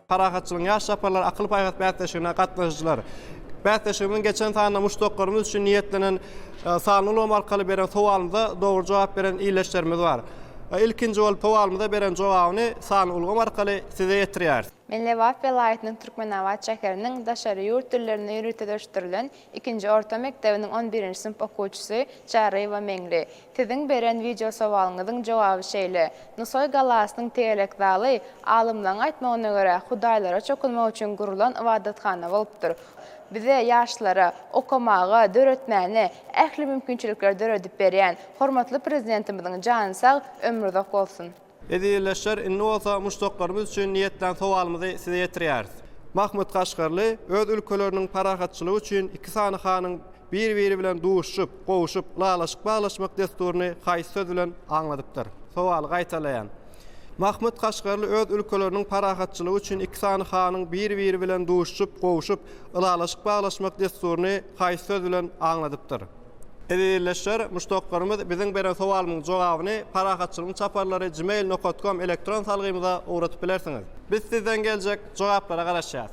A: Parahatçylygyň ýaş çaparlary akyl-paýhas bäsleşigine gatnaşyjylar bäsleşigimiziň geçen sanynda muşdaklarymyz üçin niýetlenen sanly ulgam arkaly beren sowalymyza dogry jogap beren ildeşlerimiz bar. Ilkinji bolup sowalymyza beren jogabyny sanly ulgam arkaly size ýetirýäris. Men Lebap welaýatynyň
K: Türkmenabat şäheriniň daşary ýurt dillerine ýörite dörüşdirilen ikinji orta mekdebiniň on birinji synp okuwçysy Çaryýewa Meňli. Siziň beren wideosowalyňyzyň jogaby şeýle, Nusaý galasynyň tegelek zaly, alymlaň aýtmagyna görä, hudaýlara çokunmak üçin gurulan ybadathana bolupdyr. Bize, ýaşlara, okamaga, döretmäne ähli mümkinçilikleri döredip berýän hormatly Prezidentimiziň jany sag, ömri uzak bolsun! Ezizleşler
A: indi bolsa muşdaklarymyz üçin niýetlän sowalymyzy size ýetirýäris. Mahmyt Kaşgarly öz ülkeleriniň parahatçylygy üçin iki sany hanyň bir-biri bilen duşuşyp, gowuşyp, ylalaşyk baglaşmak dessuryny haýsy söz bilen aňladypdyr? Sowaly gaýtalaýan. Mahmyt Kaşgarly öz ülkeleriniň parahatçylygy üçin iki sany hanyň bir-biri bilen duşuşyp, gowuşyp, ylalaşyk baglaşmak dessuryny haýsy söz bilen aňladypdyr? Eziz ildeşler, muşdaklarymyz biziň beren sowalymyň jogabyny parahatçylygyň çaparlary gmail nokat kom elektron salgymyza ugradyp bilersiňiz. Biz sizden geljek jogaplara garaşýas.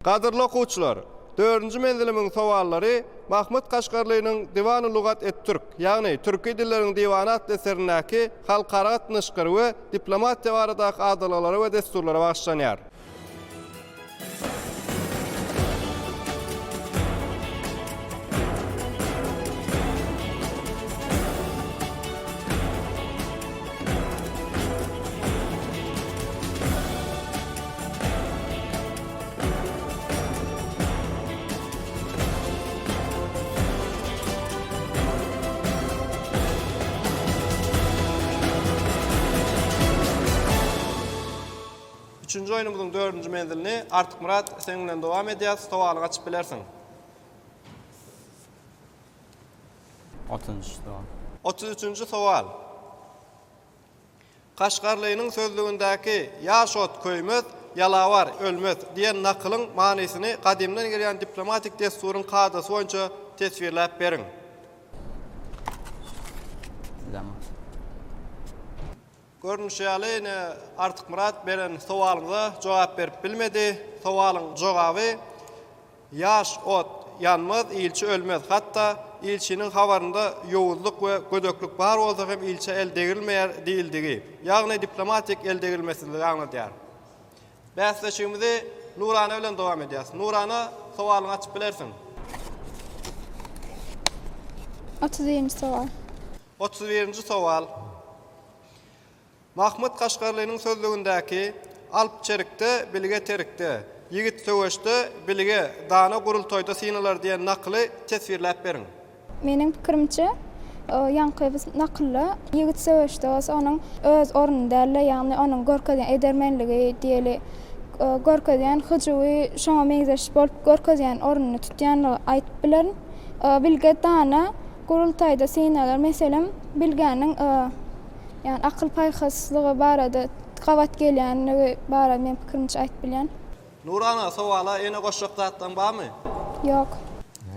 A: Gadyrly okuwçylar! Dördünji menzilimiň sowallary Mahmyt Kaşgarlynyň Diwany lugat et-Türk, ýagny Türki dilleriň diwany atly eserindäki halkara gatnaşyklary we diplomatiýa baradaky adalgalara we dessurlara bagyşlanýar. Üçünji oýnumyzyň dördünji menzilini Artykmyrat sen bilen dowam edýäs. Sowaly gaçyp bilersiň.
E: Otuz üçünji sowal. Otuz üçünji sowal.
A: Kaşgarlynyň sözlügindäki Ýaş ot köýmez, ýalawar ölmez diýen nakylyň manysyny gadymdan gelýän diplomatik dessuryň kadasy boýunça teswirläp beriň. Görnüşi ýaly, ine, Artykmyrat beren sowalyňyza jogap berip bilmedi. Sowalyň jogaby, Ýaş ot ýanmaz, ilçi ölmez. Hatda ilçiniň habarynda ýowuzlyk we gödeklik bar bolsa hem ilçä el degrilmeýär diýildigi, ýagny diplomatik eldegrilmesizligi aňladýar. Bäsleşigimizi Nurana bilen dowam edýäs. Nurana, sowalyňy açyp bilersiň.
G: Otuz birinji sowal. Otuz birinji
A: sowal. Mahmyt Kaşgarlynyň sözlügindäki Alp çerikde, bilge terikde, ýigit söweşde, bilge, dana gurultaýda synalar diýen nakyly teswirläp beriň. Meniň pikirimçe,
G: ýaňky nakylda ýigit söweşde bolsa onuň öz orny däldi, ýagny onuň görkezýän edermenligi diýeli, görkezýän hyjuwy şoňa meňzeş bolup görkezýän ornuny tutýanlygy aýdyp bilerin. Bilge, dana gurultaýda synalar, meselem, bilgäniň Ýagny akyl-paýhaslygy barada gabat gelýänligi barada men pikirimiçe aýdyp bilýän. Nurana,
A: sowala ene goşjak zatlaň barmy? Ýok.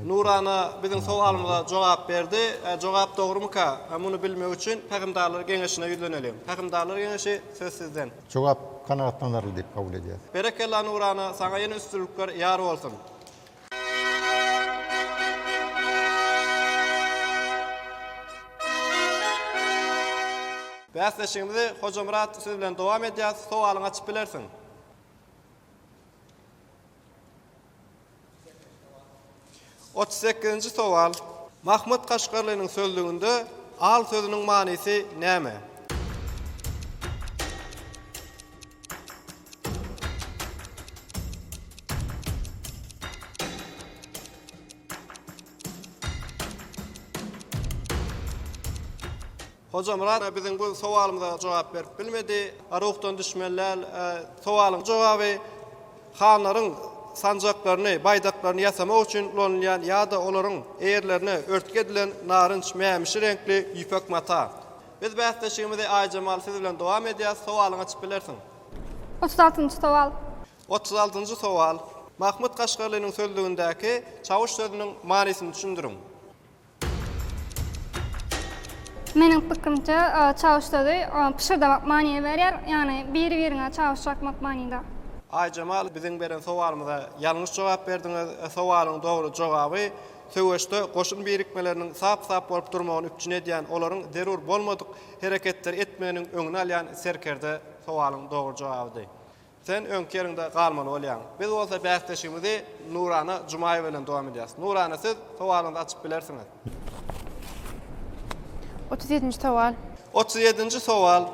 G: Nurana
A: biziň sowalymyza jogap berdi. Ä jogap dogrumyka? Ä muny bilmek üçin Pähimdarlar geňeşine ýüzleneliň. Pähimdarlar geňeşi, söz sizden. Jogap
C: kanagatlanarly diýip kabul edýäs. Berekella Nurana
A: saňa ýene üstünlikler ýar bolsun. Bäsleşigimizi Hojamyrat siz bilen dowam edýäs. Sowalyňy açyp bilersiň. Otuz sekizinji sowal. Mahmyt Kaşgarlynyň sözlüginde al sözüniň manysy näme? Hojamyrat biziň bu sowalymyza jogap berip bilmedi. Ruhdan düşmeller sowalyň jogaby hanlaryň sanjaklaryny, baýdaklaryny ýasamak üçin ulanylýan ýa-da olaryň eýerlerine örtgi edilen narynç mämişi reňkli ýüpek mata. Biz bäsleşigimizi Aýjemal siz bilen dowam edýäs, sowalyňy açyp bilersiň. Otuz altynjy
G: sowal. Otuz altynjy
A: sowal. Mahmut Kaşgarlynyň sözlügindäki çawuş sözüniň manysyny düşündiriň.
G: Meniň pikirimçe çawuş sözi pyşyrdamak manyny berýär, ýagny biri biriňe çawuş çakmak manyda. Aýjemal
A: biziň beren sowalymyza ýalňyş jogap berdiňiz, sowalyň dogry jogaby Söweşde goşun birikmeleriniň sap-sap bolup durmagyny üpjün edýän, olaryň zerur bolmadyk hereketleri etmeginiň öňüni alýan serkerde sowalyň dogry jogabydy. Sen öňki ýeriňde galmaly bolýaň. Biz bolsa bäsleşigimizi Nurana Jumaýewa bilen dowam edýäris. Nurana, siz sowalyňyzy açyp bilersiňiz.
K: Otuz ýedinji sowal. Otuz ýedinji
A: sowal.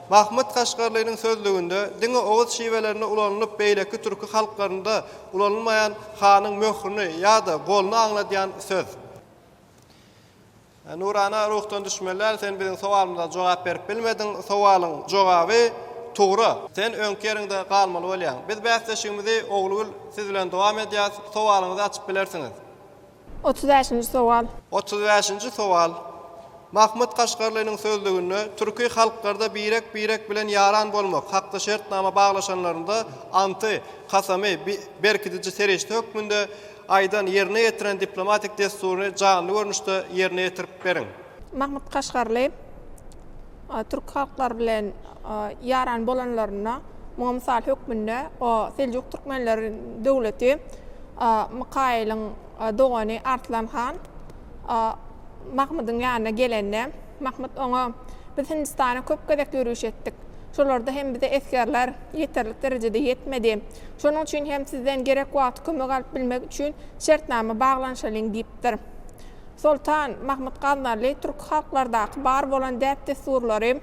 A: Mahmyt Kaşgarlynyň sözlüginde diňe oguz şiwelerinde ulanylyp beýleki türki halklarynda Ulanylmaýan hanyň möhürini ýa-da goluny aňladýan söz. Nurana ruhdan düşmeler sen biziň sowalymyza jogap berip bilmediň, sowalyň jogaby tugra. Sen öňki ýeriňde galmaly bolýaň. Biz bäsleşigimizi Oglugül siz bilen dowam edýäs, sowalyňyzy açyp bilersiňiz. Otuz
J: bäşinji sowal. Otuz bäşinji
A: sowal. Mahmyt Kaşgarlynyň sözlüginde türki halklarda birek-birek bilen ýaran bolmak, hakda şertnama baglaşanlarynda anty, kasamy, bi, berkidiji serişde hökmünde aýdan, ýerine ýetiren diplomatik dessuryny janly görnüşde ýerine ýetirip beriň. Mahmyt Kaşgarly.
J: Türk halklary bilen ýaran bolanlarynda, muňa mysal hökmünde o Seljuk türkmenleri döwleti Mykaýylyň dogany Arslan han Mahmydyň ýanyna gelende, Mahmyt oňa Biz Hindistana köp gezek ýörüş etdik. Şolarda hem bize esgerler ýeterlik derejede ýetmedi. Şonuň üçin hem sizden gerek wagty kömek alyp bilmek üçin şertnama baglanyşalyň diýipdir. Soltan Mahmut Gaznaly türki halklardaky bar bolan däp-dessurlary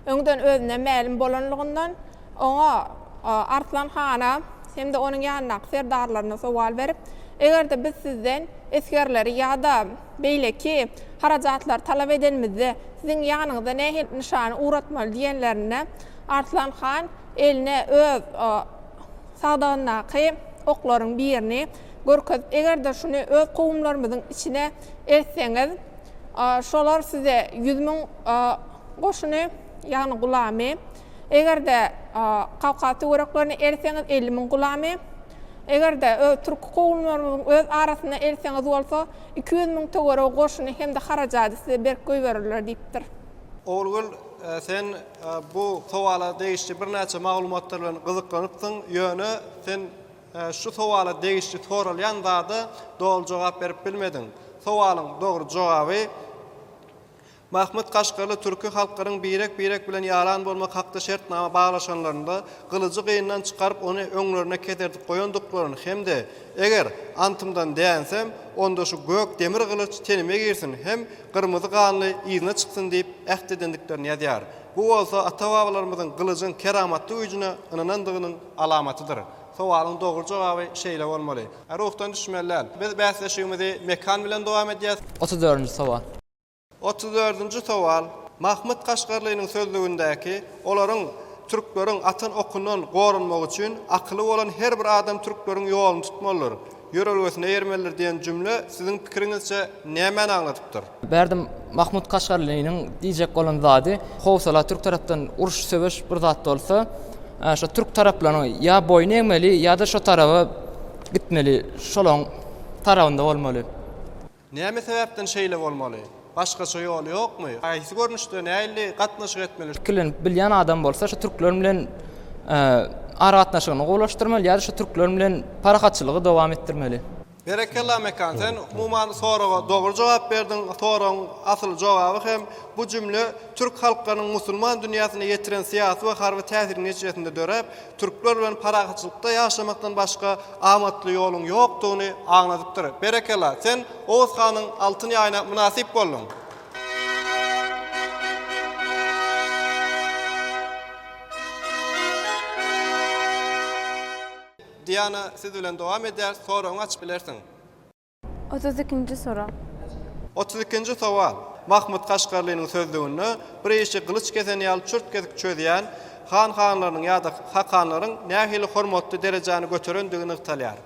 J: öňden özüne mälim bolanlygyndan, oňa, Arslan hana hem-de onuň ýanyndaky serdarlaryna sowal berip, Eger-de biz sizden esgerleri ýa-da beýleki harajatlary talap edenimizde, siziň ýanyňyza nähili-nyşany ugratmaly diýenlerinde, Arslan han eline öz sagdagyndaky oklaryň birini görkezip, eger-de şuny öz kowumlarymyzyň içine eltseňiz, şolar size ýüz müň goşuny, ýagny gulamy, eger-de kawkaz töwereklerine eltseňiz, elli müň gulamy, eger-de türki kowumlarymyzyň öz arasyna eltseňiz bolsa, iki ýüz müň töweregi goşuny hem-de harajady size berip goýberirler diýipdir. Ogulgül,
A: sen bu sowala degişli birnäçe maglumatlar bilen gyzyklanypsyň, ýöne sen Şu sowala degişli soralýan zada doly jogap berip bilmediň. Sowalyň dogry jogaby Mahmyt Kaşgarly türki halklaryň birek-birek bilen ýaran bolmak hakda şertnama baglaşanlarynda gylyjy gyndan çykaryp ony öňlerine keserdip goýandyklaryny hem-de Eger antymdan dänsem, onda şu gök demir gylyç tenime girsin hem gyrmyzy ganly yzyna çyksyn diýip äht edendiklerini ýazýar. Bu bolsa ata-babalarymyzyň gylyjyň keramatly güýjüne ynanandygynyň alamatydyr. Sowalyň dogry jogaby şeýle bolmaly. Ruhdan düşmeli däl. Biz bäsleşigimizi Mekan bilen dowam edýäs. Otuz dördünji sowal.
H: Otuz
A: dördünji sowal. Mahmyt Kaşgarlynyň sözlügindäki olaryň, türkleriň, atan okundan goranmagy üçin akyly bolan her bir adam türkleriň ýoluny tutmalydyr. Ýörelgesine eýermelidir diýen jümle siziň pikiriňizçe nämäni aňladypdyr? Bärde Mahmut
H: Kaşgarlynyň diýjek bolan zady, howsala türk tarapdan uruş söweş bir zat bolsa, şo türk taraplaryň ýa boýun egmeli ýa-da şo taraba gitmeli, şolaň tarabynda bolmaly. Näme
A: sebäpden şeýle bolmaly? Başgaça ýoly ýokmy? Haýsy görnüşde, nähili gatnaşyk etmeli? Pikirlenip bilýän adam
H: bolsa şu türkler bilen aragatnaşygyny gowulaşdyrmaly ýa-da şu türkler bilen parahatçylygy dowam etdirmeli. Berekella Mekan
A: sen umuman soraga dogry jogap berdiň, soragyň asyl jogaby hem bu jümle türk halklarynyň musulman dünýäsine ýetiren syýasy we harby täsiriň netijesinde döräp, Türkler bilen parahatçylykda ýaşamakdan başga amatly ýoluň ýokdugyny aňladypdyr. Berekella, sen Oguz hanyň altyn ýaýyna mynasyp bolduň. Diana siz bilen dowam edýäris soragyňy açyp bilersiň. Otuz
L: ikinji sorag. Otuz ikinji
A: sowal. Mahmut Kaşgarlynyň sözlüginde bir işi gylyç kesen ýaly çürt kesik çözýän han hanlarynyň ýa-da hakanlaryň nähili hormatly derejäni göterendigi nygtalýar.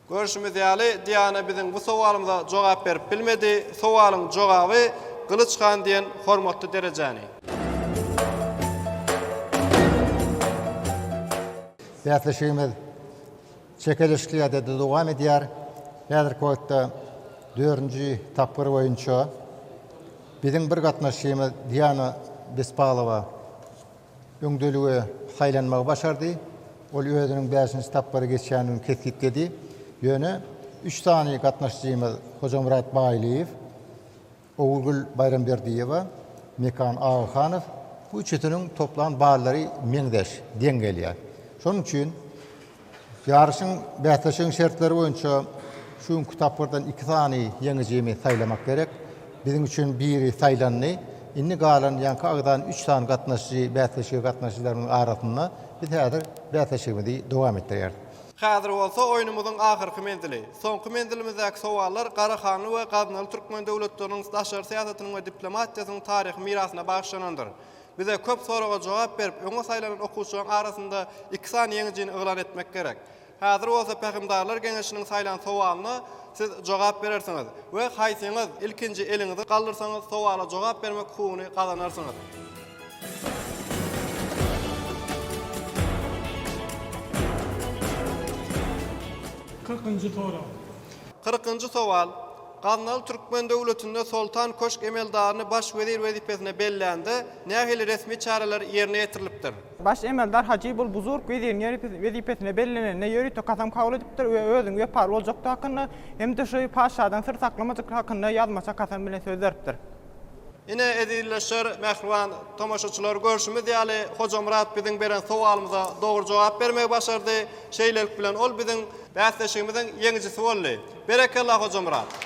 A: Görşümiz ýaly, Diana biziň bu sowalymyza jogap berip bilmedi. Sowalyň jogaby Gylyç han diýen hormatly derejäni.
C: Bäsleşigimiz Çekiliş Kiýadede dowam edýär. Häzirki wagtda dördünji tapgyr boýunça biziň bir gatnaşçymyz Diana Bespalowa öňdeligi saýlanmagy başardy. Ol özüniň bäşinji tapgyry geçýändigini kesgitledi. Ýöne üç sany gatnaşyjymyz Hojamyrat Baýlyýew, Ogulgül Baýramberdiýewa, Mekan Agahanow, bu üçüsiniň toplan ballary meňzeş, deň gelýär. Şonuň üçin ýaryşyň, bäsleşigiň şertleri boýunça şu günki tapgyrdan iki sany ýeňijini saýlamak gerek. Biziň üçin biri saýlandy. Indi galan ýaňky agzan üç sany gatnaşyjy bäsleşige gatnaşyjylarymyzyň arasynda. Biz häzir bäsleşigimizi dowam etdirýäris. Häzir bolsa
A: oýnumyzyň ahyrky menzili, soňky menzilimizdäki sowallar Garahanly we Gaznaly türkmen döwletleriniň daşary syýasatynyň we diplomatiýasynyň taryhy mirasyna bagyşlanandyr. Bize köp soraga jogap berip, öňe saýlanan okuwçylaryň arasynda iki sany ýeňijini yglan etmek gerek. Häzir bolsa Pähimdarlar geňeşiniň saýlan sowalyna siz jogap berersiňiz we haýsyňyz ilkinji eliňizi galdyrsaňyz sowala jogap bermek hukugyny gazanarsyňyz. Kyrkynjy sorag. Kyrkynjy sowal, Gaznaly türkmen döwletinde Soltan köşk emeldaryny baş wezir wezipesine bellände nähili resmi çäreler ýerine ýetirilipdir? Baş emeldar
F: Hajy bul buzurg weziriň wezipesine bellenende ýörite kasam kabul edipdir we özüniň wepaly boljakdygy hakynda hem-de şu patyşadan syr saklamajyklygy hakynda ýazmaça kasam bilen söz beripdir. Ine,
A: ezizleşer, mähriban tomaşaçylar, görşümiz ýaly, Hojamyrat biziň beren sowalymyza dogry jogap bermegi başardy. Şeýlelik bilen, ol biziň bäsleşigimiziň ýeňijisi boldy. Berekella, Hojamyrat!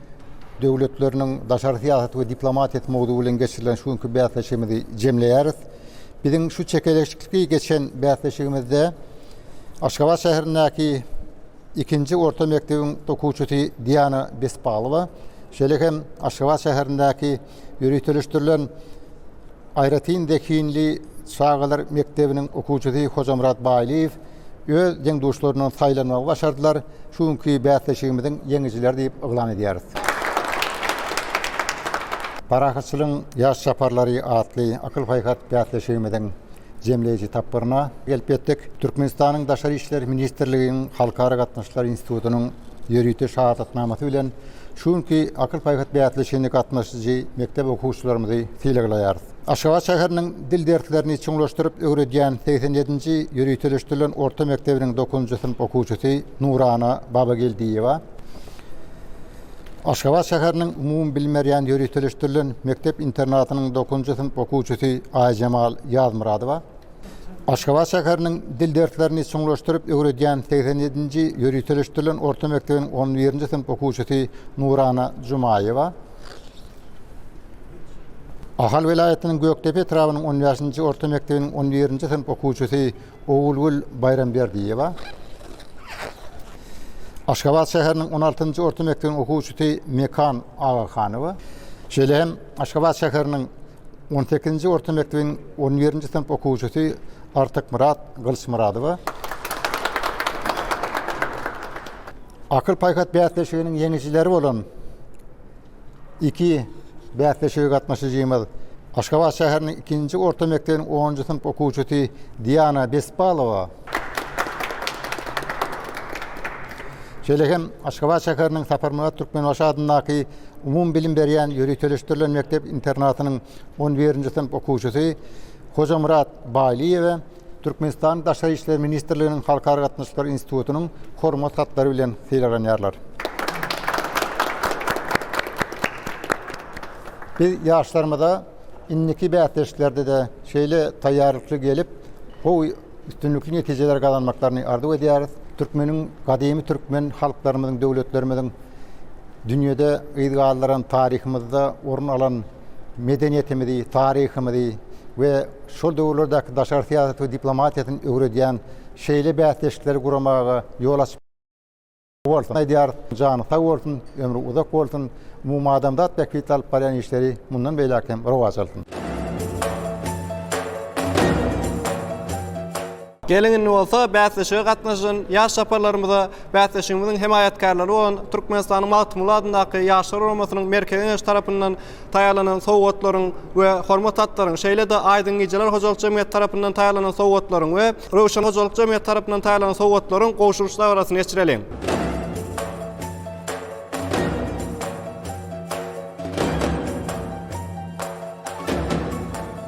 C: döwletleriniň daşary syýasaty we diplomatiýasy mowzugy bilen geçirilen şu günki bäsleşigimizi jemleýäris. Biziň şu çekeleşikli geçen bäsleşigimizde Aşgabat şäherindäki ikinji orta mekdebiň okuwçysy Diana Bespalowa, şeýle hem Aşgabat şäherindäki ýöriteleşdirilen Aýratyn zehinli çagalar mekdebiniň okuwçysy Hojamyrat Baýlyýew öz deň-duşlaryndan saýlanmagy başardylar, şu günki bäsleşigimiziň ýeňijileri diýip yglan edýäris. Parahatçylygyň ýaş çaparlary atly akyl-paýhas bäsleşigimiziň jemleýji tapgyryna gelip ýetdik. Türkmenistanyň Daşary işler ministrliginiň Halkara gatnaşyklary institutynyň Ýörite şahadatnamasy bilen şu günki Akyl-paýhas bäsleşigine gatnaşyjy mekdep okuwçylarymyzy sylaglaýarys. Aşgabat şäheriniň dil derslerini çuňlaşdyryp öwredýän segsen ýedinji ýöriteleşdirilen orta mekdebiniň dokuzynjy synp okuwçysy Nurana Babageldiýewa, Aşgabat şäheriniň umumybilim berýän ýöriteleşdirilen mekdep-internatynyň dokuzynjy synp okuwçysy Aýjemal Ýazmyradowa, Aşgabat şäheriniň dil derslerini çuňlaşdyryp öwredýän segsen ýedinji ýöriteleşdirilen orta mekdebiň on birinji synp okuwçysy Nurana Jumaýewa, Ahal welaýatynyň Gökdepe etrabynyň on bäşinji orta mekdebiniň on birinji synp okuwçysy Ogulgül Baýramberdiýewa, Aşgabat şäheriniň on altynjy orta mekdebiň okuwçysy Mekan Agahanowa, şeýle hem Aşgabat şäheriniň On sekizinji orta mekdebiň on birinji synp okuwçysy Artykmyrat Gylyçmyradowa Akyl-paýhas bäsleşiginiň ýeňijileri bolan iki bäsleşige gatnaşyjymyz, Aşgabat şäheriniň ikinji orta mekdebiň onunjy synp okuwçysy Diana Bespalowa, Şeýle hem Aşgabat şäheriniň Saparmyrat Türkmenbaşy adyndaky umumybilim berýän ýöriteleşdirilen mekdep-internatynyň on birinji synp okuwçysy Hojamyrat Baýlyýewe Türkmenistanyň Daşary işler ministrliginiň Halkara gatnaşyklary institutynyň Hormat hatlary bilen sylaglanýarlar. Biz ýaşlarymyza indiki bäsleşiklerde-de şeýle taýýarlykly gelip, gowy üstünlikli netijeler gazanmaklaryny arzuw edýäris. Türkmeniň gadymy türkmen halklarymyzyň, döwletlerimiziň dünýäde yz galdyran taryhymyzda orun alan medeniýetimizi, taryhymyzy we şol döwürlerdäki daşary syýasaty we diplomatiýasyny öwredýän şeýle bäsleşikleri guramaga ýol açyp bolsun aýdýarys. Jany sag bolsun, ömri uzak bolsun, umumadamzat bähbitli alyp barýan işleri mundan beýläk hem rowaç alsyn.
A: Geliň indi bolsa bäsleşige gatnaşan ýaş çaparlarymyza bäsleşigimiziň hemaýatkarlary bolan Türkmenistanyň Magtymguly adyndaky Ýaşlar guramasynyň Merkezi Geňeşi tarapyndan taýýarlanan sowgatlaryň we hormat hatlaryň, şeýle-de Aýdyň gijeler hojalyk jemgyýeti tarapyndan taýýarlanan sowgatlaryň we Röwşen hojalyk jemgyýeti tarapyndan taýýarlanan sowgatlaryň gowşuryş dabarasyny geçireliň.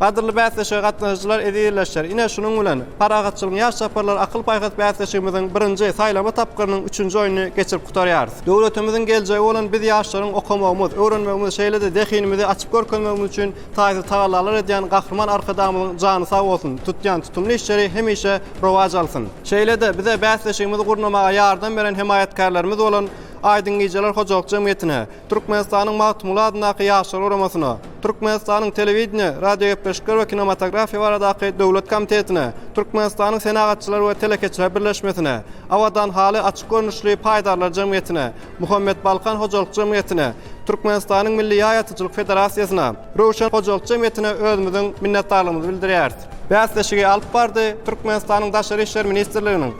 A: Gadyrly bäsleşige gatnaşyjylar ezizleşer. Ine, şunuň bilen, Parahatçylygyň ýaş çaparlary akyl-paýhas bäsleşigimiziň birinji, saýlama tapgyrynyň üçünji oýnuny geçirip gutarýarys. Döwletimiziň geljegi bolan biz ýaşlaryň okamagymyz, öwrenmegimiz, şeýle-de zehinimizi açyp görkezmegimiz üçin taýsyz tagallalar edýän Gahryman Arkadagymyzyň jany sag bolsun, tutýan tutumly işleri hemişe rowaç alsyn! Şeýle-de, bize bäsleşigimizi gurnamaga ýardam beren hemaýatkärlerimiz bolan Aýdyň gijeler hojalyk jemgyýetine, Türkmenistanyň Magtymguly adyndaky Ýaşlar guramasyna, Türkmenistanyň Telewideniýe, radiogepleşikler we kinematografiýa baradaky döwlet komitetine, Türkmenistanyň Senagatçylar we telekeçiler birleşmesine, Abadan haly açyk görnüşli paýdarlar jemgyýetine, Muhammet Balkan hojalyk jemgyýetine, Türkmenistanyň Milli ýaý atyjylyk federasiýasyna, Röwşen hojalyk jemgyýetine özümiziň minnetdarlygymyzy bildirýäris. Bäsleşigi alyp bardy, Türkmenistanyň Daşary işler ministrliginiň,